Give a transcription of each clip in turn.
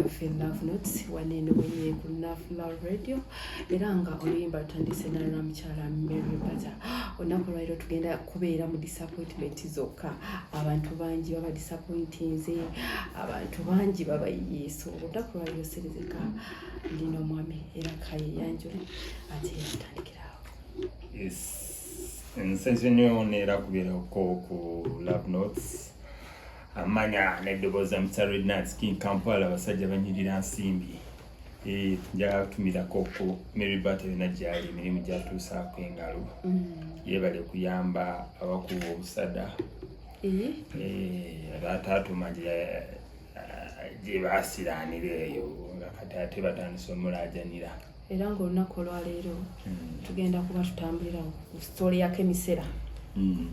ffe love notes waneeno wenye ku love love radio era nga oluyimba lutandise nalwa mukyala mary bata olunaku olwaliro tugenda kubeera mu disappointment zokka abantu bangi baba disappointinze abantu bangi baba yesu olunaku olwaliro serezeka ndina omwami era kayeyanjule ate yatandikirawo yes nsenze nyo neera kubeerako ku love notes amanya n'eddoboozi za Mr. Rednats King Kampala abasajja banyirira nsimbi eh, njagala kutumirako ku Mary Bata yonna gyali emirimu gyatuusaako engalo mm. yeebale kuyamba abakuba obusada eh? Eh, taatuma gye baasiraanira eyo nga kati ate batandise omulaajanira era ng'olunaku olwaleero hmm. tugenda kuba tutambulira ku sitole ya kemisera hmm.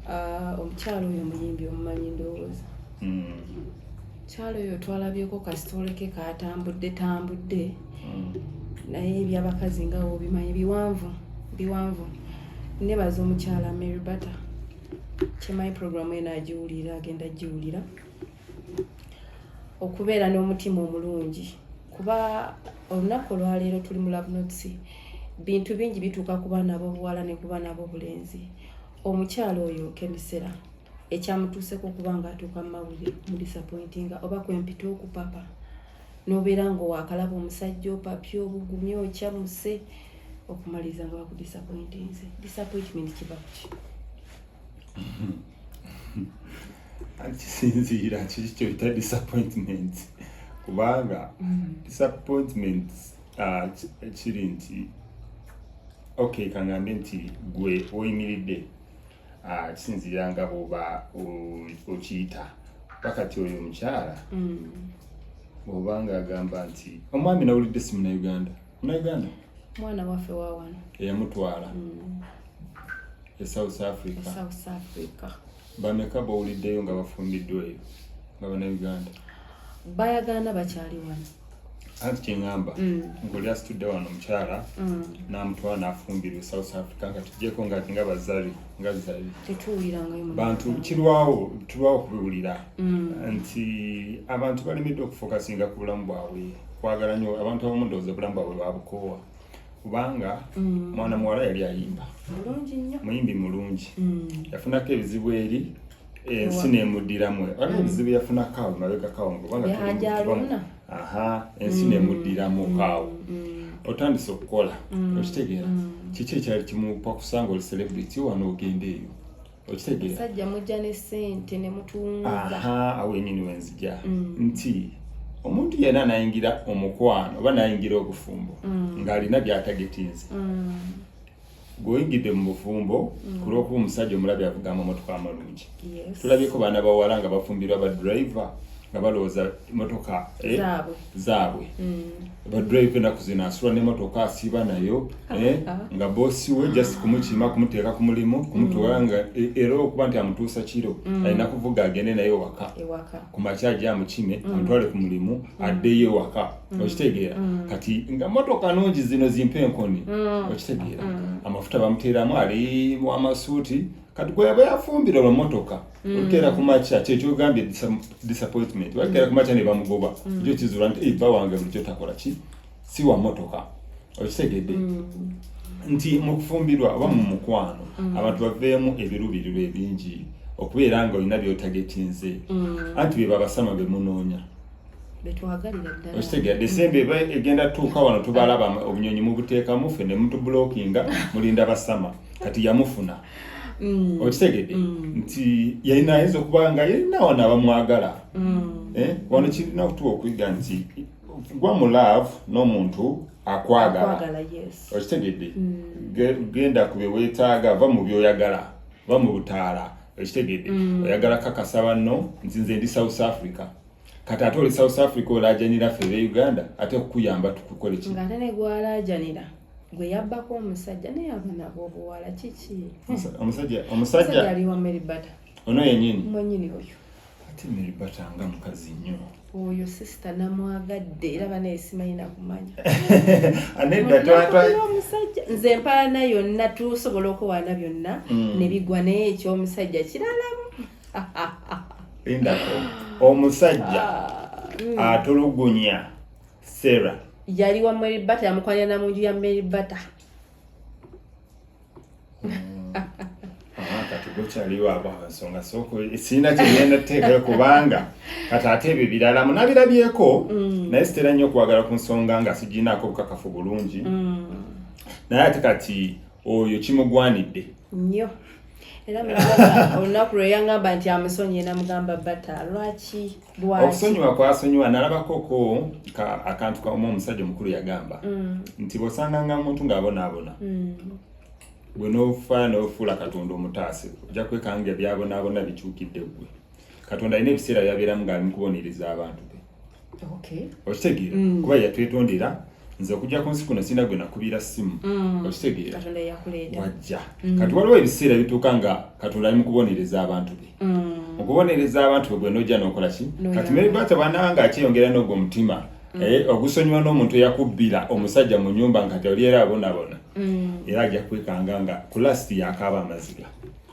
ah, omukyalo oyo omuyimbi omumanyi ndowooza hmm. kyalo oyo twalabyeko kasitole ke katambudde tambudde naye ebyabakazi nga obimanyi biwanvu biwanvu nebaza omukyala mary butter kyemanyi programu eno agiwulira agenda agiwulira okubeera n'omutima omulungi kuba olunaku olwaleero tuli mu labnots bintu bingi bituuka ku baana b'obuwala ne ku baana b'obulenzi omukyalo oyo kemisera ekyamutuuseko okuba nga atuuka mu mawulire mu disappointinga oba kwempita okupapa nobeera nga owakalaba omusajja opapye obugumye okyamuse okumaliriza nga bakudisappointinze disappointment kiba kuki kisinziira kiki kyoyita disappointment kubanga mm. disappointment ah, kiri nti ok kangambe nti gwe oyimiridde ah, kisinziira nga bwoba okiyita pakati oyo omukyala mm. bwoba nga agamba nti omwami nawulidde si munauganda munauganda mwana waffe wawano eyamutwala mm. e South Africa e South Africa bameka bowuliddeyo nga bafumbiddwa eyo nga banauganda bayagaana bakyali wano anti kyeŋamba mm. ngoli asitudde wano omukyala mm. namutwala nafumbirwa e south africa nga tujeko nga nga bazari nga zari bantu kirwawo tulwawo kubiwulira mm. nti abantu balemeddwa okufokasinga ku bulamu bwabwe kwagala nyo abantu abamu ndowooza obulamu bwabwe babukoowa kubanga mm. mwana muwala yali ayimba muyimbi mulungi mm. yafunako ebizibu eri ensi nemuddiramu waliwo mm. ebizibu yafunako awo mabegako awo kubanga aha ensi nemuddiramu awo otandise okukola okitegeera kiki ekyali kimupakusanga oli celebrity wano ogenda eyo okitegeera sajja mujja ne sente ne mutunza awo enyini wenzija mm. nti omuntu yena anayingira omukwano oba nayingira obufumbo mm. ng'alina byatagetinze mm. gweoyingidde mu bufumbo mm. ku lwokuba omusajja omulabi avuga amamotoka amalungi yes. tulabyeko baana bawala nga bafumbirwa badriver nga balowooza motoka eh, zaabwe badrive kwenda kuzina asula nemotoka asiiba nayo ah, eh, ah. nga bosi we just kumukima kumuteeka ku mulimu kumutwala mm. nga e, era okuba nti amutuusa kiro mm. alina kuvuga agende naye waka ku makya aja amukime mm. amutwale ku mulimu addeyo ewaka okitegeera kati nga motoka nungi zino zimpa enkoni okitegeera amafuta bamuteeramu ali wamasuuti kati gweyaba yafumbira olwomotoka mm. olukeera ku makya kyekyogambye disappointment balikeera ku makya ne bamugoba mm. ekyo kizuula nti ebba eh, wange bulikyo takola ki si wa motoka okitegedde mm. nti mu kufumbirwa oba mu mukwano abantu baveemu ebiruubirirwa ebingi okubeera nga olina byotagetinze anti bebabasama bemunoonya okitegera desemba eba egenda tuuka wano tubalaba obunyonyi mubuteekamu ffe ne mutubulokinga mulinda basama kati yamufuna mm. okitegede mm. nti yalina ayinza okuba nga yalina wano abamwagala mm. eh, wano kirina okutuwa okuyiga nti gwa mu love n'omuntu akwagala okitegedde genda ku byewetaaga va mu byoyagala va mu butaala okitegedde oyagala kakasa banno nti nze ndi south africa kati ate oli south africa olajanira ffe be uganda ate kukuyamba tukukole ki ngate negwalajanira gwe yabbako omusajja naye aba nabwo obuwala kiki omusajja omusajja aliwa mary bata ono yenyini mwenyini oyo ate mary bata nga mukazi nnyo oyo sisita namwagadde era bana esimanyi nakumanya omusajja nze empaana yonna tusobola okuwaana byonna mm. nebigwa naye ekyomusajja kiralamu lindako omusajja mm. atulugunya sarah yali wa mary bata yamukwanira na munju ya mary bata mm. kati gokyaliwo abo nsonga sirina kyegenda teekera kubanga kati ate ebyo birala munabirabyeko mm. naye sitera nnyo okwagala ku nsonga nga sigiinaako obukakafu bulungi naye ate kati oyo kimugwanidde nnyo era olunaku lwe yangamba nti amusonyiye namugamba bata lwaki lwakiosonyiwa kwasonyiwa nalabakoko akantu kauma omusajja omukulu yagamba mm. nti bosanganga omuntu ngaabonaabona mm. gwe nofa nofuula katonda omutaase ojja kwekanga ebyabonaabona bikyukidde gwe katonda alina ebiseera byabeeramu ngaali mukubonereza abantu okitegeera mm. kuba yatwetondera nze okujja ku nsi kuno sirina gwe nakubiira ssimu mm. okitegeera wajja mm. kati waliwo ebiseera bituuka nga katonda ali mu kubonereza abantu be mu kubonereza abantu be gwe nojja nokola ki kati meribaata bananga akyeyongera n'ogwo omutima eh, ogusonyiwa n'omuntu eyakubbira omusajja mu nyumba nga toli era abonabona era ajja kwekanga nga kulasiti yakaaba amaziga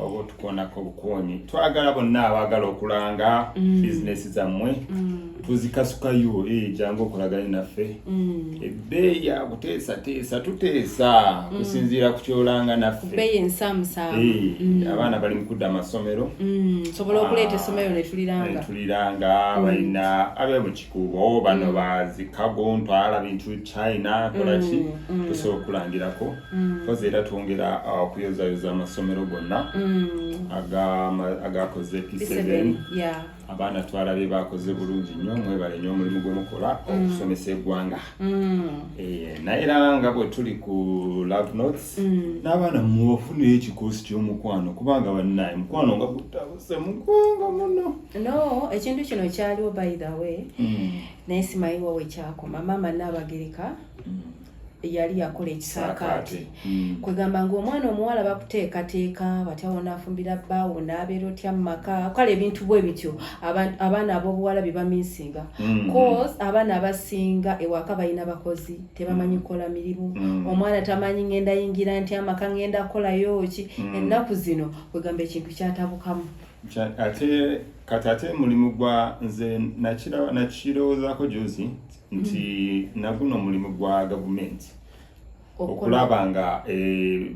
oba otukonako bukuonyi twagala bonna abaagala okulanga mm. bizinesi zammwe mm. tuzikasukayo eh, jangu okolagane naffe mm. ebbeeyi ya kuteesateesa tuteesa kusinziira ku kyolanga naffe eh, abaana bali mukudda amasomero sobola okuleeta ah, essomero netuliranga netuliranga balina abemuki kubo bano bazikago ntwala bintu china kolaki mm, mm. tusobola okulangirako mm. kozi era twongera uh, okuyozayoza amasomero gonna agakoze p7 abaana twala be bakoze bulungi nnyo mwebale nyo omulimu gwemukola okusomesa eggwanga eh, naye era nga bwe tuli ku love notes n'abaana mubafunire ekikoosi ky'omukwano kubanga bannaye mukwano nga gutaba semugongo muno no ekintu kino kyaliwo by the way mm. naye simayiwa wekyakoma maama naabagereka mm. yali yakola ekisaakaate mm. kwegamba ngaomwana omuwala bakuteekateeka batya wonaafumbira bbaawo naabeera otya mu maka kale ebintu bwe bityo abaana ab'obuwala bye baminsinga mm. cause abaana abasinga ewaka balina bakozi tebamanyi mm. kukola mirimu omwana tamanyi ngenda yingira nti amaka ngenda kukolayo ki ennaku zino kwegamba ekintu kyatabukamu ate kati ate mulimu gwa nze nakirowoozako juzi nti mm-hmm. naguno omulimu gwa gavumenti okulaba nga eh,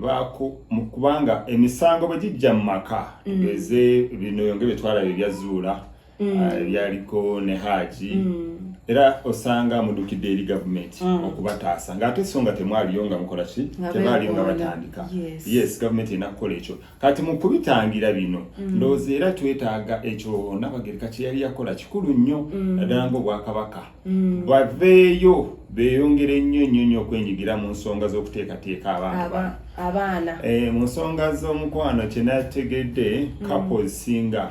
kubanga emisango bwe gijja mu maka mm. tugeze bino yonge byetwalaba ebyazuula mm. ah, ebyaliko ne haji mm. era osanga mudukidde eri gavumenti mm. okubataasa ngaate so nga temwaliyo nga mukola ki tebaaliyo nga batandika yes gavumenti erina kukola ekyo kati mu kubitangira bino ndowooza era twetaaga ekyo nabagereka kye yali yakola kikulu nnyo naddala ngaobwakabaka baveeyo beeyongere nnyo nnyo nnyo okwenyigira mu nsonga z'okuteekateeka abantu abaana eh, mu nsonga z'omukwano kyenategedde kapo ezisinga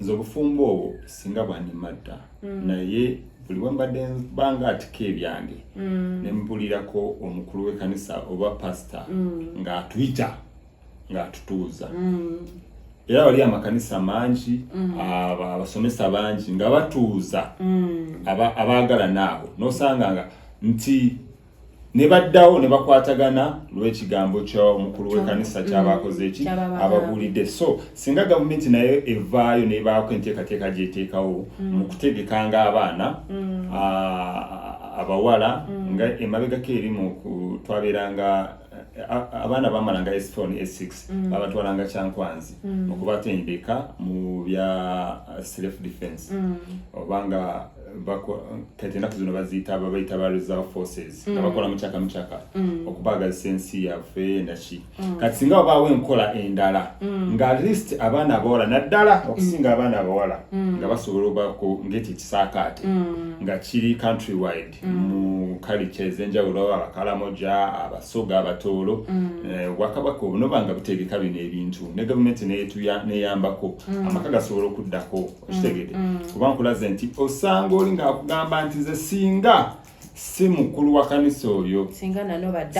nze obufumbo obwo singa bwandimatta mm. naye buli wembadde banga atika ebyange mm. nembulirako omukulu w'ekanisa oba pasita mm. ng'atuyita ng'atutuuza era wali amakanisa mangi abasomesa bangi nga batuuza abaagalana abo nosanga nga nti ne baddawo ne bakwatagana lw'ekigambo ky'omukulu w'ekkanisa mm. ky'abaakoze eki ababuulidde so singa gavumenti nayo evaayo nebaako enteekateeka gyeteekawo mm. mu kutegekanga abaana mm. abawala nga emabegako eri mu twabeeranga abaana bamalanga esifoni esix babatwalanga kyankwanzi okubatendeka mu bya self defense obanga kati enaku zino baziyita babayita ba reserve forces nga mm. bakola mukyaka mukyaka mm. okubaagazisa ensi yaffe naki mm. kati singa wabaawo enkola endala nga atleast abaana abawala naddala okusinga abaana abawala nga basobola obako ngaekyo ekisaakaate nga kiri country wide mu kalica ezenjawulo abakalamoja abasoga abatoolo eh, obwakabaka obunoba nga butegeka bino ebintu ne gavumenti neyambako amaka gasobola okuddako okitegede mm, mm. kuba nkulaze nti osanga oli ngaakugamba nti nze singa si mukulu wa kanisa oyo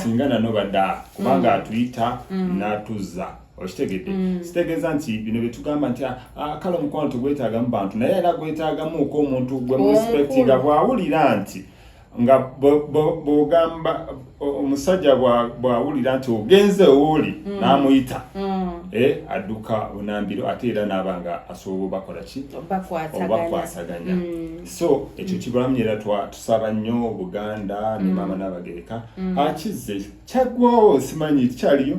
singa nanobada kubanga mm. atuyita natuzza okitegedde mm. sitegeeza nti bino byetugamba nti ah, ah, kale omukwano tegwetagamu bantu naye era gwetagamuuko omuntu gwe muspectinga bwawulira nti nga bwogamba omusajja bwawulira nti ogenze owooli mm. n'amuyita mm. eh, adduka onambiro ate era naaba nga asobola obakola ki obakwasaganya mm. so ekyo kibulamu era tusaba nnyo buganda ne maama n'abagereka akize kyaggwawo simanyi kyaliyo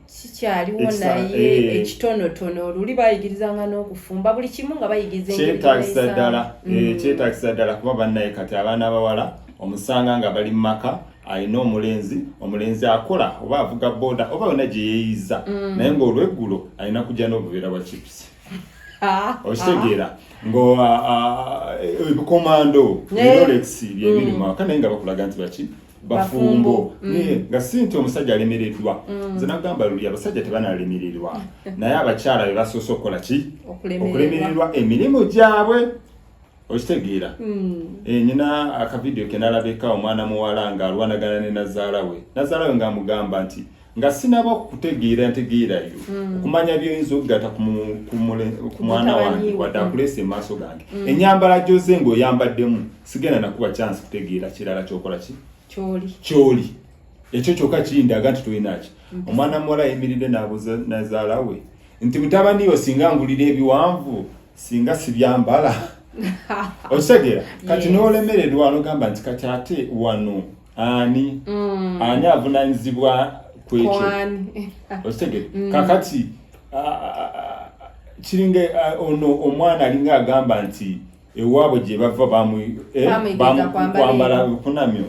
kikyaliwo naye eh. ekitonotono oluli bayigirizanga n'okufumba buli kimu nga bayigizakyetagisa ddala mm. eh, kyetagisa ddala kuba bannaye kati abaana abawala omusanga nga bali mu maka alina omulenzi omulenzi akola oba avuga boda oba yona gye yeeyiza mm. naye ng'olweggulo alina kujja n'obuveera bwa chipusi Ah, okitegeera ah. ngo ah, eh, ebikomando rolex byebiri mwaka mm. naye nga bakulaga nti baki bafumbo mm. eh, nga si nti omusajja alemereddwa mm. nze nagamba luli abasajja tebanalemererwa naye abakyala be basoose okukola ki okulemererwa emirimu gyabwe okitegeera mm. eh, nyina akavidiyo kenalabeka omwana muwala nga alwanagana ne nazaala we nazaala we ngaamugamba nti nga sinaba kukutegeera ntegeerayo mm. okumanya byoyinza okugata ku mwana wange wadde akuleesa emaaso gange mm. enyambala gyoze nga oyambaddemu sigenda nakuba kyansi kutegeera kirala kyokola ki kyoli ekyo kyokka kindaga nti tolinaki mm. omwana muwala ayimiridde nazaala we nti mutabaniyo singa ngulira ebiwanvu singa sibyambala okitegeera kati nolemererwa nogamba nti kati ate wano ani mm. ani avunanyizibwa kwekyo okitegere mm. kakati kiringa ono omwana alinga agamba nti ewaabwe gye bava bamukwambala eh, kunamyo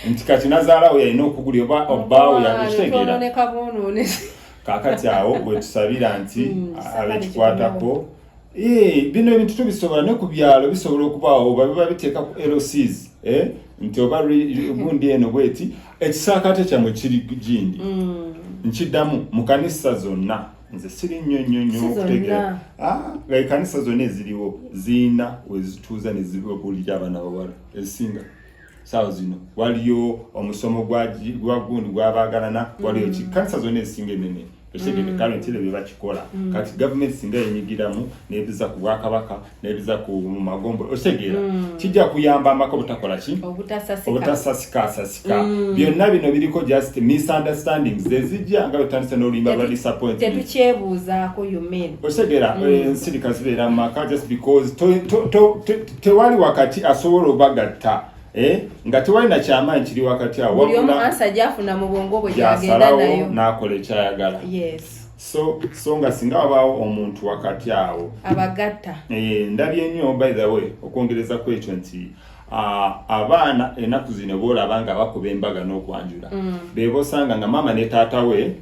nti kati nazaalawo yalina okugulira oba obbaawo yakitegera kakati awo bwetusabira nti mm, abekikwatako Eh, bino ebintu tubisobola ne ku byalo bisobola okubaawo oba biba biteeka ku LCs eh, nti oba gundi eno bweti ekisaakaate kyammwe kiri gindi mm. nkiddamu mu kanisa zonna nze siri nnyo nnyo nnyo okutegeera ah, nga ekanisa zonna eziriwo ziina wezituuza ne zibabulira abaana bawala ezisinga sawo zino waliyo omusomo gwagundi gwabaagalana waliyo ki kanisa zonna ezisinga enene ekitegede mm. kale ntire bebakikola mm. kati gavumenti singa yenyigiramu nebiza ku bwakabaka nebiza ku magombo okitegera mm. kijja kuyamba amaka obutakola ki obutasasika asasika byonna bino biriko just misunderstanding zezijja nga betandise n'oluyimba lwa disappointtetukyebuuzaako okitegera eh, ensirika zibeera mu maka just because tewali wakati asobola obagatta eh, nga tewali na kyamaanyi kiri wakati awo buli omu ansa gyafuna mu bwongo bwe gyagenda nayo n'akola ekyayagala yes so so nga singa wabaawo omuntu wakati awo abagatta eh, ndabye nnyo by the way okwongereza ku ekyo nti abaana enaku zino boolaba nga bakuba embaga n'okwanjula mm. bebosanga nga maama ne taata we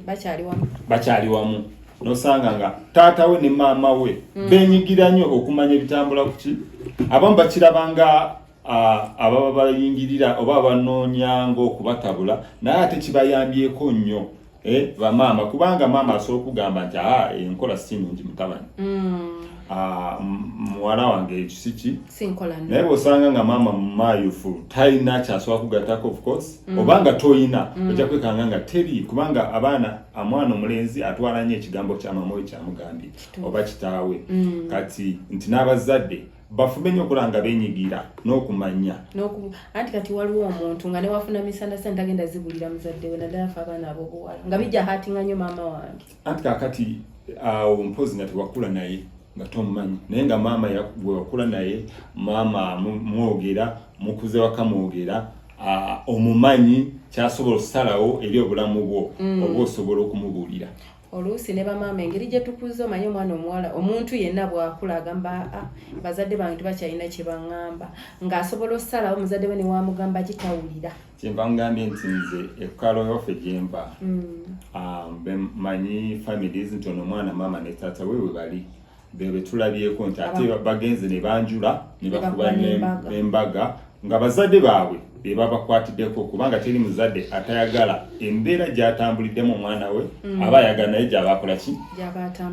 bakyali wamu nosanga nga taata we ne maama we mm. benyigira nnyo okumanya ebitambula kuki abamu bakiraba nga ababa bayingirira oba abanoonya ngaokubatabula naye ate kibayambyeko nnyo eh, bamaama kubanga maama asobola okugamba nti a enkola si nungi mutabani mm. Ah, muwala wange ekisiki naye bwosanga nga maama mumayufu talina kyasobola kugatako of course mm. oba nga tolina mm. ojja kwekanga nga teri kubanga abaana amwana omulenzi atwala nnyo ekigambo kya mama we kyamugambye oba kitaawe mm. kati nti n'abazadde bafube nyo okulanga benyigira n'okumanya anti kati waliwo omuntu nga newafuna misana sente tagenda zibulira muzadde we naddala fe abaana abobuwala nga bijja hatinga nyo maama wange anti kakati awo mpozi nga tewakula naye nga tomumanyi naye nga maama wewakula naye maama mwogera mukuze waka mwogera Ah, omumanyi kyasobola okusalawo eri obulamu bwo mm. oba osobola okumubuulira oluusi ne bamaama engeri gye tukuza omanyi omwana omuwala omuntu yenna bw'akula agamba ah, bazadde bange tebakyalina kye baŋŋamba ng'asobola okusalawo omuzadde we ne wamugamba kitawulira kyenva ngambye nti nze ekukalo yaffe gyemba mm. ah, bemanyi families nti ono omwana maama ne taata we we bali bebe tulabyeko nti ate bagenze ne banjula ne bakuba n'embaga nga bazadde baabwe be babakwatiddeko kubanga teri muzadde atayagala embeera gyatambuliddemu omwana we mm. aba ayagala naye gyaba akola ki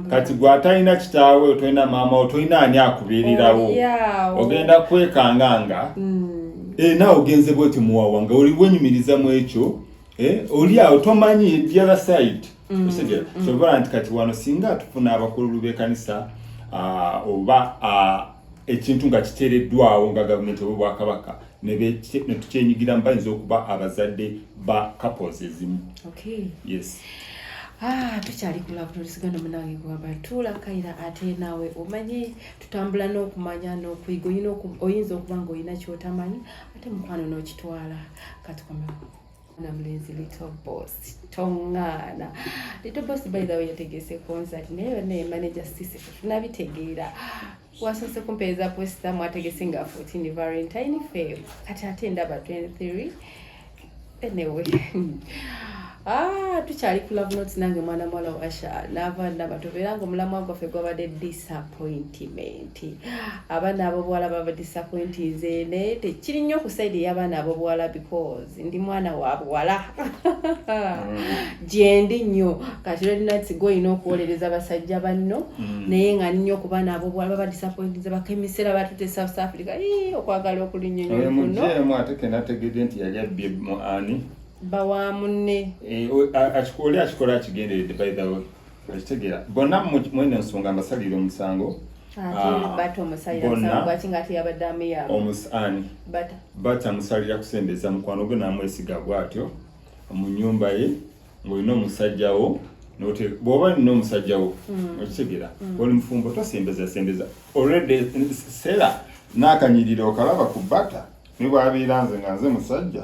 kati gwe atalina kitaawe otolina maama otolina ani akubeererawo oh, ogenda kwekanga nga mm. eh, naawe ogenze bweti muwawa nga oli wenyumiriza mu ekyo eh, oli awo tomanyi the other side mm, okitegera mm. kyobola nti kati wano singa tufuna abakululu bekanisa ah, oba ah, ekintu nga kiteereddwawo nga gavumenti oba obwakabaka netukyenyigiramu bayinza okuba abazadde ba couples ezimu yes Ah, tukyali kulabulolisigana munange gwabatuula kaira ate naawe omanyi tutambula n'okumanya n'okuyiga oyinza okuba nga olina kyotamanyi ate mukwano n'okitwala katukomewo na mlenzi Little Boss tongana Little Boss by the way yategese concert naye yonna ye manager sisi tunabitegeera wasoose kumpeereza posita mwategese nga 14 valentine fe kati ate ndaba 23 anyway Ah, tukyali ku love notes nange mwana mwala wa Asha nava ndaba tubeera nga omulamwa gwaffe gwabadde disappointment abaana abobuwala baba disappointinze naye tekiri nnyo ku side y'abaana abobuwala because ndi mwana wa buwala gyendi mm. nnyo kati lwerinati gwe olina okuwolereza basajja banno mm. naye nga nnyo kuba naabo bwala baba disappointinze bakemisera batute south africa okwagala okulinyonyomunoatekenategede nti yali abbye mu ani bawa munne eh, akikola akikola akigenderedde by the way okitegera bonna mweno nsonga mbasalira omusango ah, bata musalira kusembeza mukwano gwe namwesiga bwatyo mu nyumba ye ngaolina omusajjawo bwoba olina omusajjawo mm. okitegera mm. oli mufumbo tosembeza sembeza olredy sera nakanyirira okalaba ku bata nibwabeera nze nga nze musajja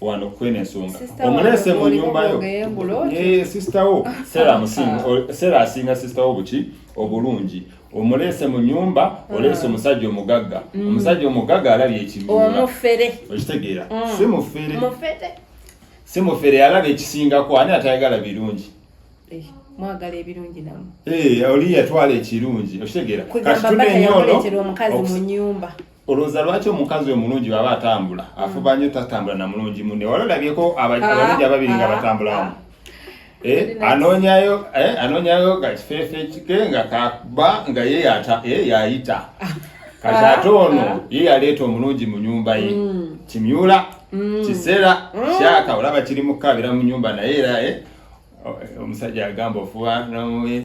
wano kwene ensonga omuleese mu nyumba yo eh, sister wo sera amusinga sera asinga sister wo buki obulungi omuleese mu nyumba ah. oleese omusajja omugagga mm. omusajja omugagga alabye ekibuula okitegeera mm. si mufere si mufere alabye ekisingako ani atayagala birungi eh. mwagala ebirungi namu eh, oli yatwala ekirungi okitegeera kati tunenyoono omukazi mu nyumba olowooza lwaki omukazi omulungi bwaba atambula mm. afuba nyo tatambula na mulungi munne wali olabyeko ah, abalungi ababiri nga ah, batambulamu ah. eh, anonyayo eh, anonyayo kakifeefe kike nga kaba nga ye eh, yayita kati ate ono ye yaleeta omulungi mu nyumba ye mm. kimyula mm. kiseera kyaka olaba kiri mukukabira mu nyumba naye era omusajja agamba ofuba nomuwe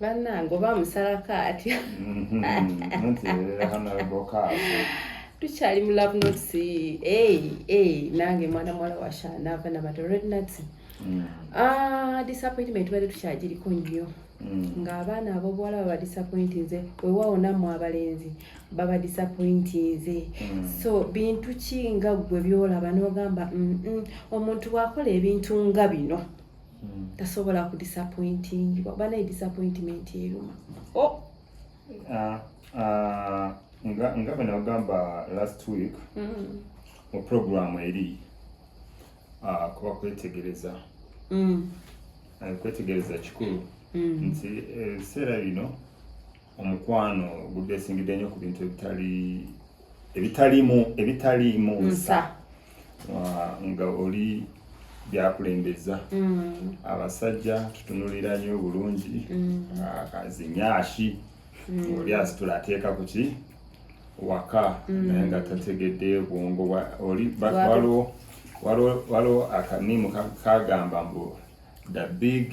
bannange oba musalako atya tukyali mu love notes nange mwana muwala washanaava nabata red nuts mm. ah, disappointment bade tukyagiriko nnyo mm. ng'abaana abobuwala baba disappointinze wewaawo nammwe abalenzi baba disappointinze mm. so bintu ki nga ggwe byolaba n'ogamba omuntu bwakola ebintu nga bino hmm. tasobola ku disappointing oba naye disappointment eruma oh! ah, ah, nga nga bwe nagamba last week hmm. mu program eri ah, kuba kwetegereza hmm. eh, kwetegereza kikulu nti eh, ebiseera bino omukwano gudesingidde nnyo ku bintu ebitali ebitaliimu ebitaliimu nsa nga oli byakulembeza mm. abasajja tutunulira nyo bulungi mm. kazinyashi mm. oli asitula ateeka ku ki waka naye nga tategedde bwongo oli waliwo akaniimu kagamba mbu the big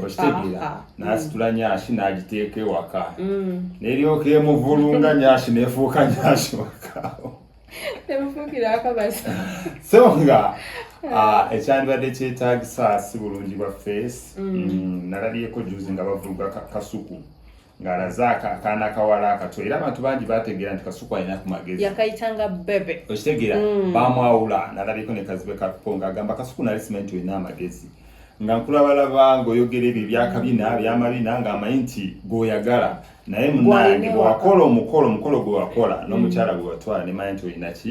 okitegera n'asitula nyashi n'agiteeka ewaka mm. neryoka emuvulunga nyashi nefuuka nyashi waka so nga ah, ekyandibadde kyetagisa si bulungi bwa face mm. mm, nalabyeko juzi nga bavuga kasuku ng'alaze akaana akawala akato era abantu bangi bategeera nti kasuku alina ku magezi yakayitanga bebe okitegeera mm. bamwawula nalabiko ne kazibe kakupo ng'agamba kasuku nali simanyi nti olina amagezi nga nkulabalaba ng'oyogera ebyo ebyakabina byamabina ng'amanyi nti gweoyagala naye munange bwewakola omukolo omukolo gwewakola n'omukyala mm. gwe watwala nemanya nti olina ki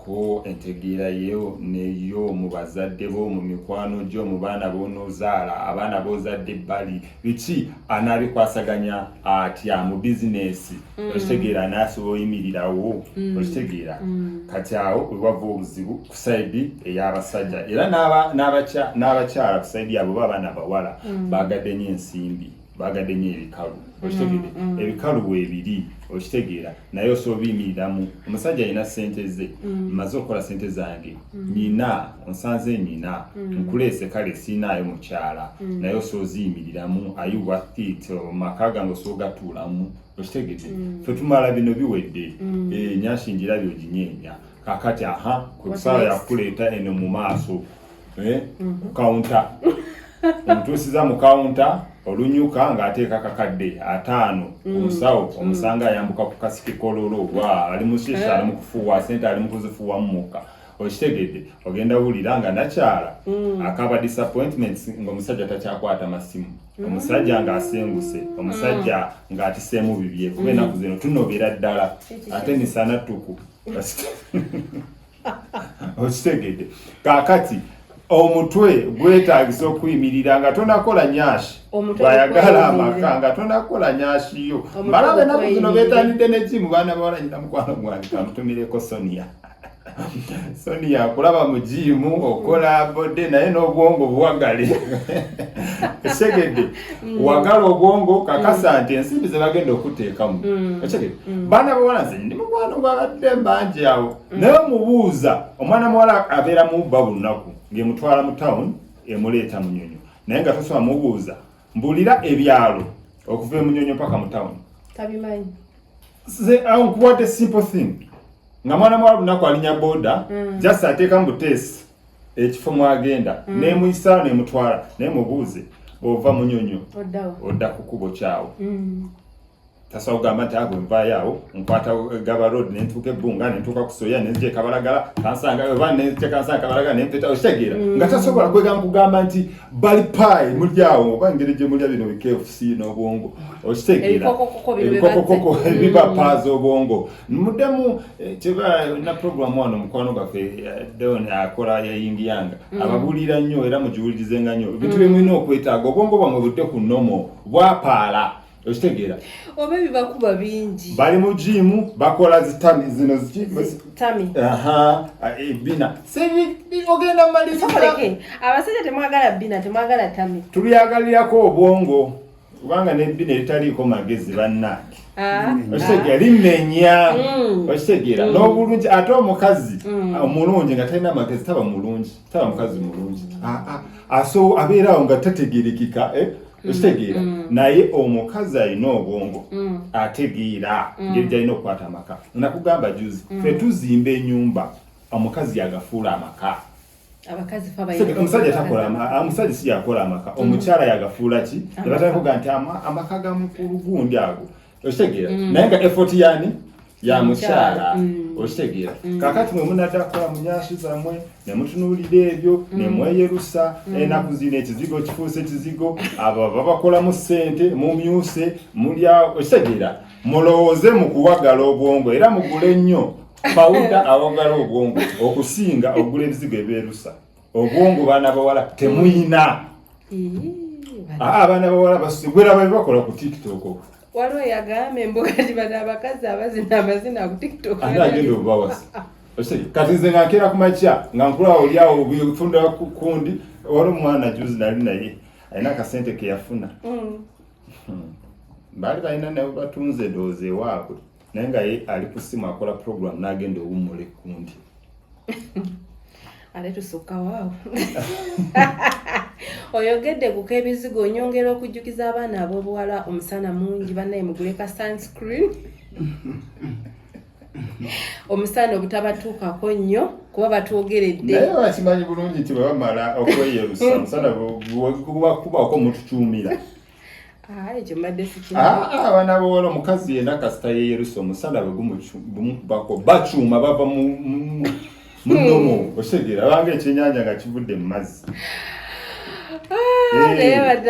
ko entegeera yeewo neyo mu bazadde bo mu mikwano gyo mu baana bonozaala abaana bozadde bali biki anaabikwasaganya atya mu bizinesi mm. okitegeera anaasobola oyimirirawo mm. okitegeera mm. kati awo wewava obuzibu ku saidi ey'abasajja era n'abakyala ku saidi yabo ba abaana bawala baagadde nyo ensimbi bagadde nyo ebikalu okitegede mm, mm. ebikalu webiri okitegeera naye osobola obiyimiriramu omusajja alina sente ze mm. maze okukola sente zange nina onsanze nina nkuleese kale siinaayo mukyala naye osobola oziyimiriramu ayi wathit maka gange osobola ogatuulamu okitegede fe tumala bino biwedde eh, nyanshingira byoginyeenya kakati aha kwekusala yakuleeta eno mu maaso eh, mhm. ku kawunta omutuusiza mu kawunta olunyuka ng'ateeka kakadde ataano mm. omusawo mm. omusanga ayambuka ku kasiki kololo wa ali mushesha eh. ali mukufuuwa sente ali mukuzifuuwamu mukka okitegedde ogenda wulira nga nakyala mm. akaba disappointments ngaomusajja takyakwata masimu omusajja ng'asenguse omusajja ng'atiseemu bibye kuba enaku zino tunobera ddala ate misana ttuku okitegedde kakati omutwe gwetagisa okuyimirira nga tonakola nyashi bwayagala amaka nga tonakola nyashi yo mbala benaku zino betandidde nejimu baana bawala nyina mukwano gwange kamutumireko sonia sonia kulaba mujimu okola bode naye n'obwongo buwagale esegedde mm. wagala obwongo kakasa mm. nti ensimbi zebagenda okuteekamu mm. ekegedde baana bawala nze ndi mukwano gwabadde mbanja awo mm. naye omubuuza omwana muwala abeera mubba bulunaku ng'emutwala mu tawuni emuleeta munyonyo naye nga tosoma mubuuza mbulira ebyalo okuva emunyonyo mpaka mu tawuni tabimanyi nkuwadde simple thing nga mwana muwala bulunaku alinya boda mm. just ateeka mu buteesi ekifo mwagenda mm. nemuyisaawo nemutwala naye mubuuze ova munyonyo odda kukubo kyawo mm. tasa ogamba nti ago nvaayo awo nkwata eh, gaba road ne ntuuka ebbunga ne ntuuka ku soya ne nzija ekabalagala kansanga oba ne nzija kansanga kabalagala ne mpeta okitegeera mm. nga tasobola kwegamba kugamba nti bali paayi muli awo oba engeri gye mulya bino bikfc n'obwongo okitegeera ebikokokoko mm. ebiba paaza obwongo muddemu eh, kyeba na programu wano mukwano gwaffe eh, deon akola yayingiyanga mm. ababuulira nnyo era mugiwulirizenga nnyo ebintu byemulina okwetaaga obwongo bwamwe budde ku nomo bwapaala okitegeera oba ebibakuba bingi bali mu jiimu bakola zitami zino zitami aha e, bina sebi ogenda maliza abasajja temwagala bina temwagala tami tubyagalirako obwongo kubanga nebbi netaliiko magezi bannange ah. okitegera limenya mm. okitegera mm. n'obulungi ate omukazi mm. omulungi nga talina magezi taba mulungi taba mukazi mulungi ah, ah. aso abeeraawo nga tategerekika eh? okitegeera mm, mm. naye omukazi alina obwongo mm. ategeera ngeri gyalina okukwata amaka nakugamba juzi fe tuzimba enyumba omukazi yagafuula amaka omusajja takolaamusajja si yakola amaka omukyala yagafuula ki ebatakuga nti amaka gamukulugundi ago okitegeera mm. naye nga effort yani ya mukyala mm. okitegeera mm. kakati mwe munadakola munyashi zamwe nemutunuulira ebyo mm. nemweyerusa mm. enaku eh, zino ekizigo kifuuse ekizigo abo babakolamu sente mumyuse mulya okitegeera mulowooze mu kuwagala obwongo era mugule nnyo pawuda awagala obwongo okusinga okugula ebizigo ebeerusa obwongo baana bawala temuyina ah, abaana bawala basigwera bali bakola ku tiktok waliwo yagamba embuga tibana abakazi abazina amazina ku tiktok ani agenda obubawasa kati nze nga nkeera ku makya nga nkulawo olyawo bifunda kundi wali omwana juzi nali naye alina akasente keyafuna mm. hmm. baali balina nawe batunze doozi ewaabwe naye nga ye ali ku simu akola program n'agenda owummula ekkundi ate tusukka waawo oyogedde kuka ebizigo onyongera okujjukiza abaana ab'obuwala omusana mungi banaye mugule ka sunscreen omusana obutabatuukako nnyo kuba batwogeredde naye bakimanyi bulungi nti bwebamala okweyerusa omusana gubakubaako mututuumira ekyo mbadde sikiabaana ah, ah, bawala omukazi yena kasita yeyerusa omusala bwe gumukubako bacuuma bava munomo hmm. okitegera abanga ekyenyanja nga kivudde mu mazzi ah, eh,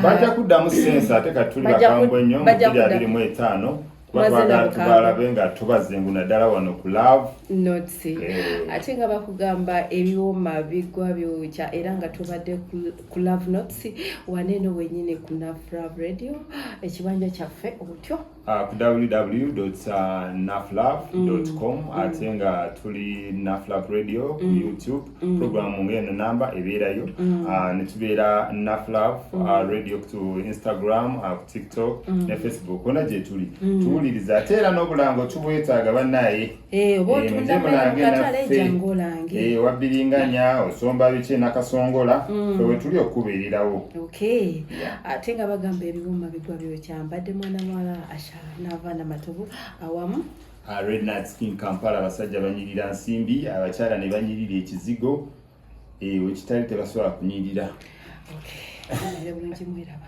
bajja kuddamu sensi ate katuli bakambwe nnyo mu biri abiri mu etaano abantu balabe nga tubazengu naddala wano ku love notsi eh. ate nga bakugamba ebiwoma bigwa byokya era nga tubadde ku love nots waneeno wenyini ku naflove radio ekibanja kyaffe otyo ah, ku www naflove com mm. ate nga tuli naflove radio ku mm. youtube Mm. program nga eno namba ebeerayo mm. ah, netubeera naflav mm. ah, radio ku instagram ah, ku tiktok ne facebook ona gyetuli tuwuliriza ate era n'obulango tubwetaaga banaye eh, eh, wabbiringanya eh, osomba biki nakasongola fe wetuli okukubeererawo ate nga bagamba ebiwuma bigwa byokyambadde mwana mwala asha nava namatovu awamu Ah, Red Night Skin Kampala abasajja banyirira nsimbi abakyala ne banyirira ekizigo eh, wekitali tebasobola kunyirira Okay. Era bulungi mwiraba.